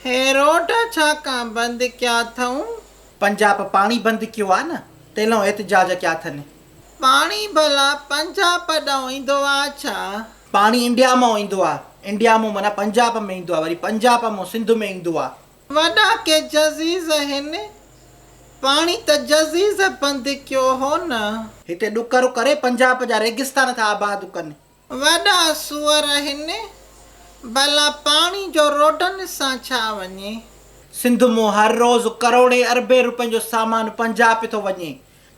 هي road ڇا ڪان بند ڪيا ٿئون. پنجاب پاڻي بند ڪيو آ نه تيلئون احتجاج ڪيا ٿن. پاڻي ڀلا پنجاب ڏئون ايندو آ ڇا. پاڻي انڊيا مئون ايندو آ. انڊيا مئون معنيٰ پنجاب ۾ ايندو آ وري پنجاب مئون سنڌ ۾ ايندو آ. وڏا ڪي جزيز هن پاڻي ته جزيز بند ڪيو هو نه. هتي ڏڪر ڪري پنجاب جا ريگستان ٿا آباد ڪن. وڏا سوئر آهن، ڀلا پاڻي جو روڊن سان ڇا وڃي؟ سنڌ مون هر روز ڪروڙين اربين روپين جو سامان پنجاب پي ٿو وڃي،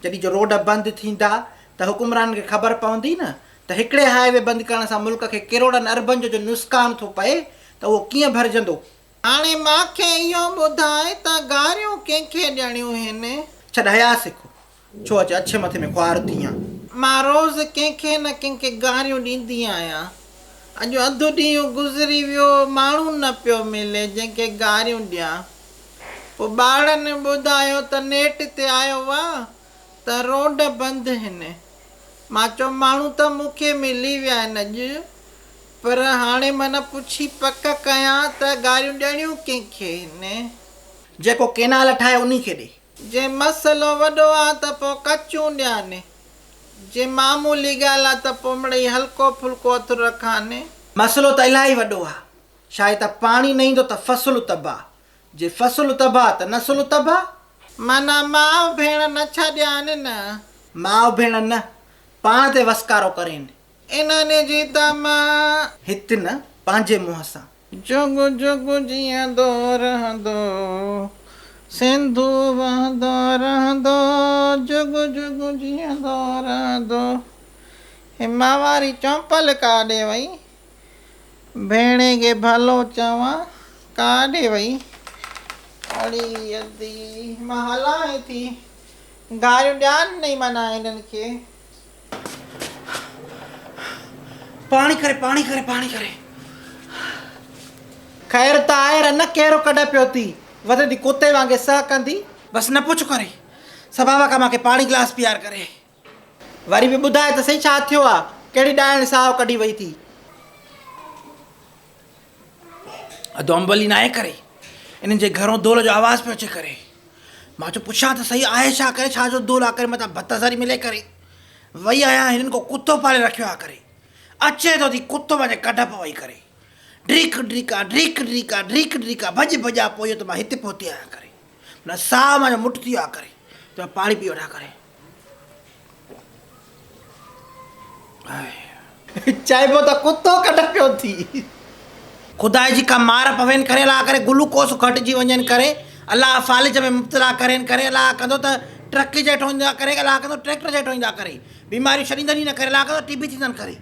جڏهن جو روڊ بند ٿيندا ته حڪمرانن کي خبر پوندي نه ته هڪڙي هاء وي بند ڪرڻ سان ملڪ کي ڪروڙن اربن جو جو نسڪان ٿو پئي ته اهو ڪيئن ڀرجندو؟ هاڻي مان کي اهو ٻڌاء ته گاريون ڪنهن کي ڏيڻيون هين؟ ڇڏ حيا سک. ڇو اچي اڇي مٿي ۾ خوار ٿي آن. مان روز ڪنهن کي نه ڪنهن کي گاريون ڏيندي آهيان. اڄ اڌ ڏينهن گذري ويو ماڻهو نه پيو ملي جنهن کي گاريون ڏيان. پوء ٻارڙن ٻڌايو ته نيٽ تي آيو آ ته روڊ بند هن. مان چيو ماڻهو ته مون کي ملي ويا آهن اڄ پر هاڻي من پڇي پڪ ڪيان ته گاريون ڏيڻيون ڪنهن کي هن. جيڪو ڪينال ٺاهي انهي کي ڏي. جي مسئلو وڏو آ ته پو ڪچون ڏيان، جي معمولي ڳالهه آ ته پو مڙئي هلڪو ڦلڪو اٿر رکان. مسئلو ته الاهي وڏو آ، شايد ته پاڻي نه ايندو ته فصل تباهه، جي فصل تباهه ته نسل تباهه. معنيٰ ماء ڀيڻ نه ڇڏيان نه. ماء ڀيڻ نه، پاڻ تي وسڪارو ڪرين. انهن جي تماع. هت نه پنهنجي منهن سان. جڳ جڳ جيئندو رهندو. سنڌو وهندو رهندو. جڳ جڳ جيئندو رهندو. هي مان واري چؤنپل ڪاڏي وئي. ڀيڻي کي ڀلو چوان ڪاڏي وئي. اڙي ادي مان هلان هتي. گاريون ڏيان نه معنيٰ هنن کي. پاڻي کري پاڻي کري پاڻي کري خير ته آهي رن ڪهڙو ڪڍ پيو ٿي وڌي ٿي ڪتي وانگي سهه ڪندي بس نه پڇ ڪري سبابا کان ماکي پاڻي گلاس پيار ڪري وري به ٻڌاء ته سهي ڇا ٿيو آ ڪهڙي ڏائڻ ساهه ڪڍي وئي ٿي. ادوم ڀلي ناهي ڪري انهن جي گهرون دول جو آواز پيو اچي ڪري مان چيو پڇان ته سهي آهي ڇا ڪري ڇا جو دول آ ڪري متان ڀت ذري ملي ڪري وئي آهيان هنن ڪو ڪتو پالي رکيو آ ڪري اچي ٿو ٿي ڪتو وڃي ڪڍ پ وئي ڪري ڊريڪ ڊريڪا ڊريڪ ڊريڪا ڊريڪ ڊريڪا ڀڄ ڀڄا پويو ته مان هتي پهتي آهيان ڪري منا ساهه مان جو مٽ ٿي ويو آ ڪري ته مان پاڻي پي وٺان ڪري چئبو ته ڪتو ڪڍ پيو ٿي. خدا جي ڪا مار پوين ڪري الله ڪري گلوڪوس گهٽجي وڃين ڪري الله فالج ۾ مبتلا ڪرين ڪري الله ڪندو ته ٽرڪ جيٺو ايندا ڪري الله ڪندو ٽريڪٽر جيٺو ايندا ڪري بيماريون ڇڏيندن ئي نه ڪري الله ڪندو ٽي بي ٿيندن ڪري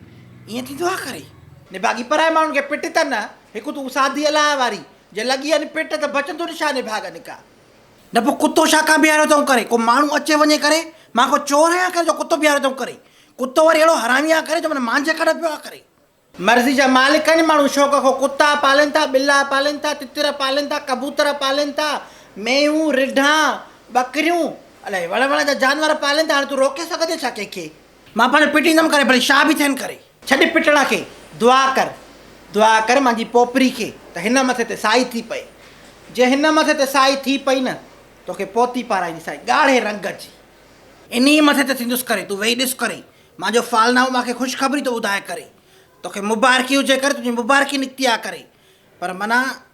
ايئن ٿيندو آ ڪري. نڀاڳي پرائي ماڻهن کي پٽ تن هڪ تون سادي الله واري جي لڳي ان پٽ ته بچندو نشاني ڀاڳ نڪا نه پوء ڪتو ڇا ڪا بيهاريو اٿئون ڪري ڪو ماڻهو اچي وڃي ڪري مان ڪو چور آهيان ڪري جو ڪتو بيهاريو اٿئون ڪري ڪتو وري اهڙو حرامي آهي ڪري جو من مانجهي ڪڍ پيو آهي ڪري. مرضي جا مالڪ آهن ماڻهو شوق کان ڪتا پالين ٿا ٻلا پالين ٿا تتر پالين ٿا ڪبوتر پالين ٿا مينهون رڍا ٻڪريون الائي وڙهه وڙهه جا جانور پالين ٿا هاڻي تون روڪي سگهندين ڇا ڪنهن کي. مان پاڻ پٽيندم ڪري ڀلي شاهه به ٿين ڪري. ڇڏ پٽڻ کي دعا ڪر دعا ڪر مانجي پوپري کي ته هن مٿي تي سائي ٿي پئي جي هن مٿي تي سائي ٿي پئي نه توکي پوتي پارائيندي سائي ڳاڙهي رنگ جي انهي مٿي تي ٿيندس ڪري تون ويهي ڏس ڪري مانجو فالنائو مانکي خوشخبري ٿو ٻڌائي ڪري توکي مبارڪي هجي ڪري تنهنجي مبارڪي نڪتي آ ڪري پر منا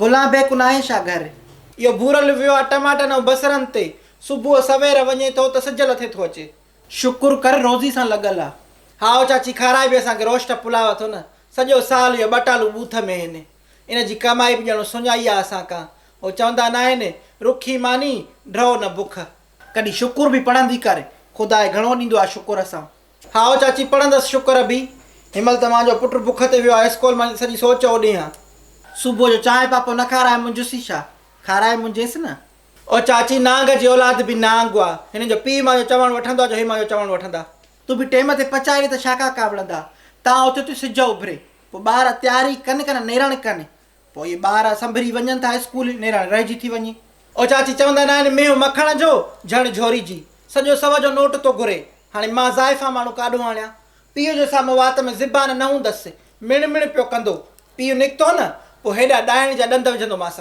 گلان بي ڪناهين شا گهر. اهو ڀورل ويو آ ٽماٽن ۽ بصرن تي. صبح سوير وڃي ٿو ته سج لٿي ٿو اچي. شڪر ڪر روزي سان لڳل آ. هائو چاچي کارائي به اسان کي روشٽ پلاء اٿو نه سڄو سال اهو ٻٽالو ٻوٿ ۾ هين ان جي ڪمائي به ڄڻو سڃائي آ اسان کان هو چوندا ناهن رکي ماني ڍئو نه بک. ڪڏهن شڪر به پڙهندي ڪر خدا گهڻو ڏيندو آ شڪر سان. هائو چاچي پڙهندس شڪر ابي هن مهل توهان جو پٽ بک تي ويو آهي اسڪول مان سڄي سو چئو ڏينهن. صبح جو چانهه پاپو نه کارائي منجهس ئي ڇا کارائي منجهيس نه. او چاچي نانگ جي اولاد به نانگ آ هنن جو پيء مان جو چوڻ وٺندو آ جو هي مان جو چوڻ وٺندا. تون به ٽيم تي پچائي ڏي ته ڇا ڪا ڪاوڙندا تان اوچتو سج اڀري پوء ٻار تيار ئي ڪن ڪن نيرڻ ڪن پوء اهي ٻار سنڀري وڃن ٿا اسڪول، نيرڻ رهجي ٿي وڃي. او چاچي چوندا نه آهن مينهن مکڻ جو جهڙ جهوري جي، سڄو سو جو نوٽ ٿو گهري، هاڻي مان زائفان ماڻهو ڪاڏو آڻيان؟ پيء جو سامهون وات ۾ زبان نه هوندس، مڙ مڙ پيو ڪندو، پيء نڪتو نه، پوء هيڏا ڏائڻ جا ڏند وجهندومانس.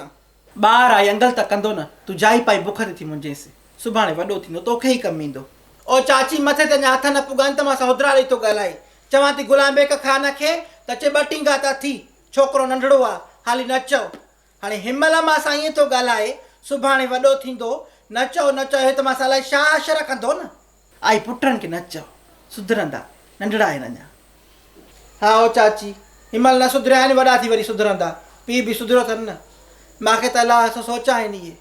ٻار آهي انگل ته ڪندو نه، تون جائي پائي بک تي ٿي منجهينس، سڀاڻي وڏو ٿيندو توکي ئي ڪم ايندو. او چاچي مٿي تي اڃا هٿ نه پڳا آهن ته مان سان هدرا ڏئي ٿو ڳالهائي، چوان ٿي غلام بيگ کان نه کين ته چي ٻه ٽينگا ٿا ٿي، ڇوڪرو ننڍڙو آ، هالي نه چئو. هاڻي هن مهل مان سان ائين ٿو ڳالهائي، سڀاڻي وڏو ٿيندو، نه چئو نه چئو هي ته مان سان الائي شا حشر ڪندو نه. آء پٽن کي نه چئو، سڌرندا، ننڍڙا آهن اڃا. هائو چاچي، هن مهل نه سڌريا آهن، وڏا ٿي وري سڌرندا. پيء به سڌريو اٿن نه. مان کي ته الائي سو سوچ آهن اهي.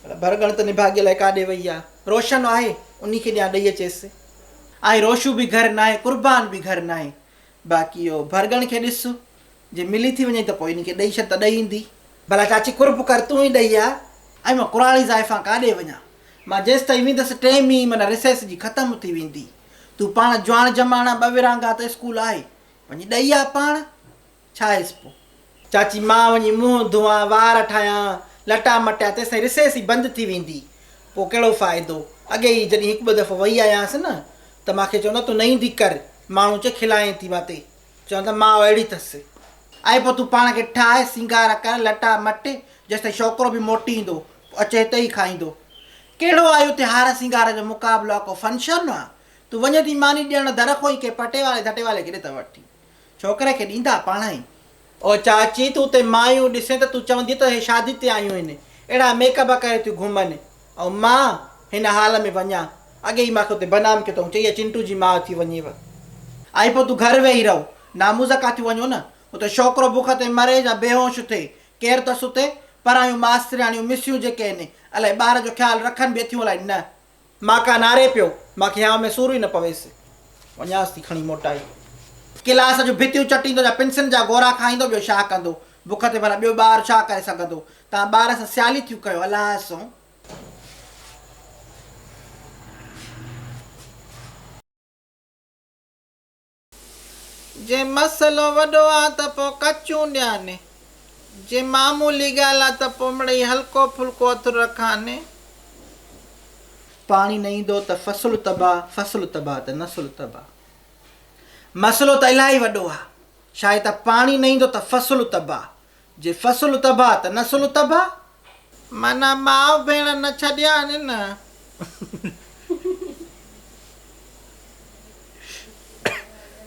پر ڀرڳڻ ته نڀاڳي الائي ڪاڏي وئي آ. روشن آهي، انهي کي ڏيان ڏئي اچيس. آء روشو به گهر ناهي، قربان به گهر ناهي. باقي اهو ڀرڳڻ کي ڏس، جي ملي ٿي وڃئي ته پوء ان کي ڏئي ڇڏ ته ڏئي ايندي. ڀلا چاچي قرب ڪر تون ئي ڏئي آ. ۽ مان ڪراڙي زائفان ڪاڏي وڃان. مان جيستائين ويندس ٽئين مي معنيٰ ريسيس جي ختم ٿي ويندي. تون پاڻ جواڻ جماڻ آ ٻه ورهاڱا ته اسڪول آهي. وڃي ڏئي آ پاڻ. ڇا هيس پوء. چاچي مان وڃي منهن ڌوئان، وار ٺاهيان، لٽا مٽيان تيسين رسيس ئي بند ٿي ويندي. پوء ڪهڙو فائدو. اڳي ئي جڏهن هڪ ٻه دفعو وئي آيانس نه ته مان کي چوندا تون نه ايندي ڪر، ماڻهو چي کلائين ٿي ماتي. چوندا ماء اهڙي اٿس. اي پوء تون پاڻ کي ٺاهه، سينگار ڪر، لٽا مٽ، جيستائين ڇوڪرو به موٽي ايندو، پوء اچي هتي ئي کائيندو. ڪهڙو آهي اتي هار سينگار جو مقابلو آ ڪو فنڪشن آ. تون وڃين ٿي ماني ڏيڻ، در کان ئي ڪنهن پٽيوالي ڌٽيوالي کي ڏي ته وٺ. ڇوڪري کي ڏيندا پاڻ ئي. او چاچي تون تي مايون ڏسين ته تون چوندين ته هي شادي تي آيون هين اهڙا ميڪ اپ ڪري ٿيون گهمن ۽ مان هن حال ۾ وڃان اڳي ئي ماکي اتي بدنام ڪيو اٿئون چئي اها چنٽو جي ماء ٿي وڃيو ۽ پوء تون گهر ويهي رهو ناموزا ڪا ٿيون وڃو نه اتي ڇوڪرو بک تي مري يا بيهوش ٿئي ڪير ته سٿي پرايون ماسترياڻيون مسيون جيڪي هين الائي ٻار جو خيال رکن به اٿيون الائي نه. مان ڪاناري پيو، مان کيانء ۾ سوري نه پويس. وڃانس ٿي کڻي موٽائي. ڪلاس جون ڀتيون چٽيندو يا پنسن جا گورا کائيندو ٻيو شا ڪندو. بک تي ڀلا ٻيو ٻار شا ڪري سگهندو. توهان ٻار سان سيالي ٿيون ڪيو الائي سون. جي مسئلو وڏو آ ته پوء ڪچون ڏيان، جي معمولي ڳالهه آ ته پوء مڙئي هلڪو ڦلڪو اٿر رکان. پاڻي نه ايندو ته فصل تباهه، فصل تباهه ته نسل تباهه. مسئلو ته الاهي وڏو آ، شايد ته پاڻي نه ايندو ته فصل تباهه، جي فصل تباھ ته نسل تباھ. معنيٰ ماء ڀيڻ نه ڇڏيائين نه.